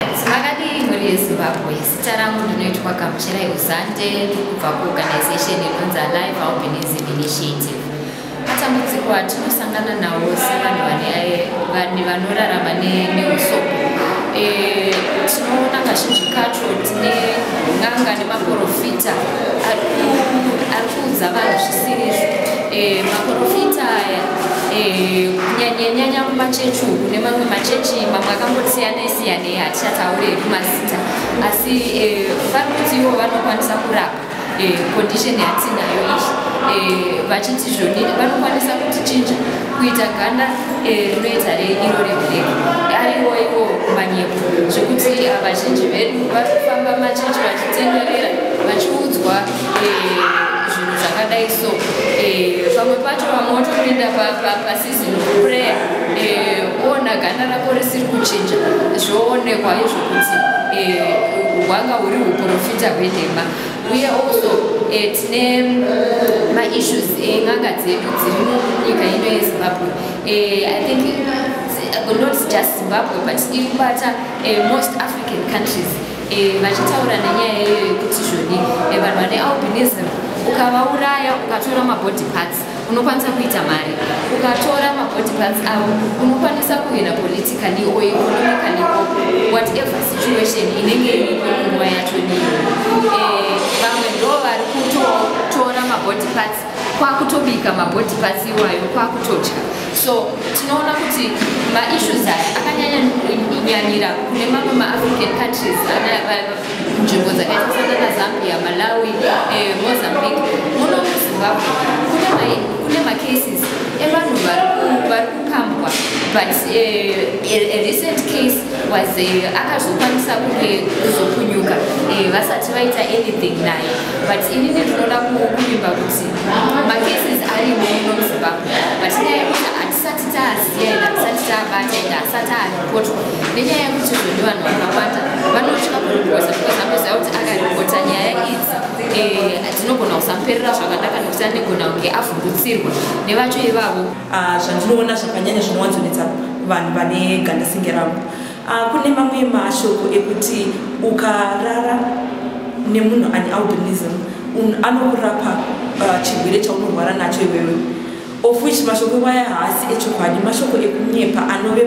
Makadii mhuri yeZimbabwe, zita rangu ndinoitwa Gamuchirai Uzande kubva kuorganization inonzi Alive Albinism Initiative. Matambudziko atinosangana nawo sevanhu vane vanorarama neusopo eh, tinoona kazhinji kacho tine n'anga nemaporofita ari kuudza vanhu zvisirizvo eh, maporofita aya eh, kunyanyanyanya kumachechi uku nemamwe machechi mamwe akangosiyana siyanei hatichataure hedu mazita asi eh, vari kuti ivo vanokwanisa kurapa eh, condition yatinayo iyi eh, vachiti zvonini vanokwanisa kutichinja kuita ganda rinoita reiro reblack ariwo iwo manyepo zvekuti vazhinji vedu vari kufamba machechi vachitenderera vachiudzwa zvinhu zvakadai so pamwe pacho vamwe votopinda season of prayer eh, ona ganda rako risiri kuchinja zvoonekwa izvo kuti eh, hwanga huri uprofita hwenhema uye also eh, tine maissues en'anga dzedu dziri munyika ino yezimbabwe i think not just zimbabwe but iri kubata most african countries vachitaura nenyaya iyoyo yekuti zvoni vanhu vane albinism ukavauraya ukatora mabody parts unokwanisa kuita mari ukatora mabody parts avo unokwanisa kuhina politically or economically whatever situation inenge iripo nguva yacho niyo eh, vamwe ndo vari kutotora mabody parts kwakutobika mabody parts iwayo kwakutodya so tinoona kuti maissues aya akanyanya nyanyira kune mamwe maafrican countries nzvimbo dzakaita sanana zambia malawi eh, mozambique muno muzimbabwe kune macases evanhu vari kukambwa but eh, a recent case was eh, akazokwanisa kunge kuzopunyuka vasati vaita anything naye but ini ndinoda kuvimba kuti macases ari muno muzimbabwe but nyaya yekuti hatisati taziva ende hatisati tabata ende hasati ari Kotwa nenyaya yekuti izvo ndivanhu vakawanda vanotya kuripota because vanoziva kuti akaripota nyaya idzi eh, dzinogona kusamuperera zvakanaka nekuti anegona kunge avhungutsirwa nevacho ivavo ah, zvandinoona zvakanyanya zvinowanzonetsa vanhu vane gandasinge ravo ah, kune mamwe mashoko ekuti ukarara nemunhu ane albinism anorapa uh, chirwere chaunorwara nacho iwewe of which mashoko iwaya haasi echokwadi mashoko ekunyepa anove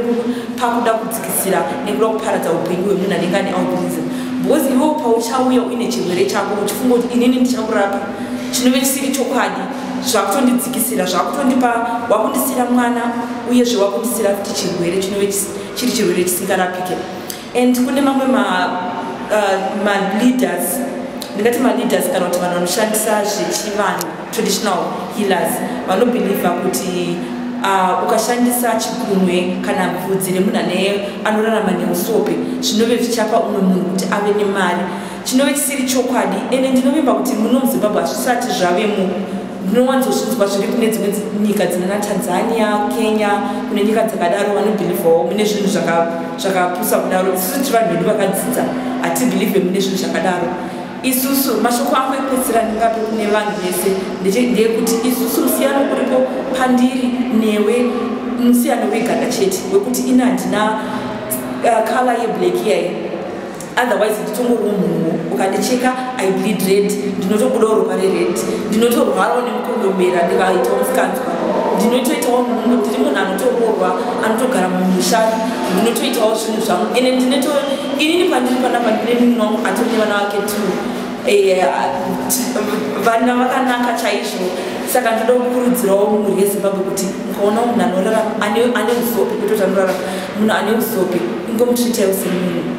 pakuda kudzikisira nekuda kuparadza upenyu hwemunhu anenge ane albinism because iwewo pauchauya uine chirwere chako uchifunga kuti inini ndichakurapa chinove chisiri chokwadi zvakutondidzikisira zvakutondipa wakundisira mwana uyezve wakundisira kuti chirwere chinove chiri chirwere chisingarapike and kune mamwe ma, uh, ma leaders ndingati maleaders kana kuti vanhu vanoshandisa zvechivanhu traditional healers vanobhilivha kuti uh, ukashandisa chigunwe kana bvudzi remunhu ane anorarama neusope zvinove zvichapa umwe munhu kuti ave nemari chinove chisiri chokwadi ende ndinovimba kuti muno muzimbabwe hazvisati zvave mu ndinowanzozvinzwa zviri kune dzimwe nyika dzinana tanzania kenya kune nyika dzakadaro vanobhilivhawo mune zvinhu zvakapusa kudaro isusu tiri vanhu vedu vakadzidza hatibhilivhe mune zvinhu zvakadaro isusu mashoko ako ekuedzera ndingape kune vanhu vese ndeyekuti isusu musiyano uripo pandiri newe musiyano weganda chete wekuti ini handina uh, kala yeblack yayi otherwise nditongoriwo munhu ukandicheka i bleed red ndinotobudawo ropa rered ndinotorwarawo nemukondombera ndikaitawo msikanzwa ndinotoitawo munhu ndiri munhu anotoroorwa anotogara mumusha ndinotoitawo zvinhu zvangu ende ndinoto inini pandiri panapa ndine munhu wangu atone vana vake t eh, vana vakanaka chaizvo saka ndoda kukurudzirawo mhuri yezimbabwe kuti ukaona munhu anorarama ane usopi kutoti anorarama munhu ane usopi ingomutriitaiwo semunhu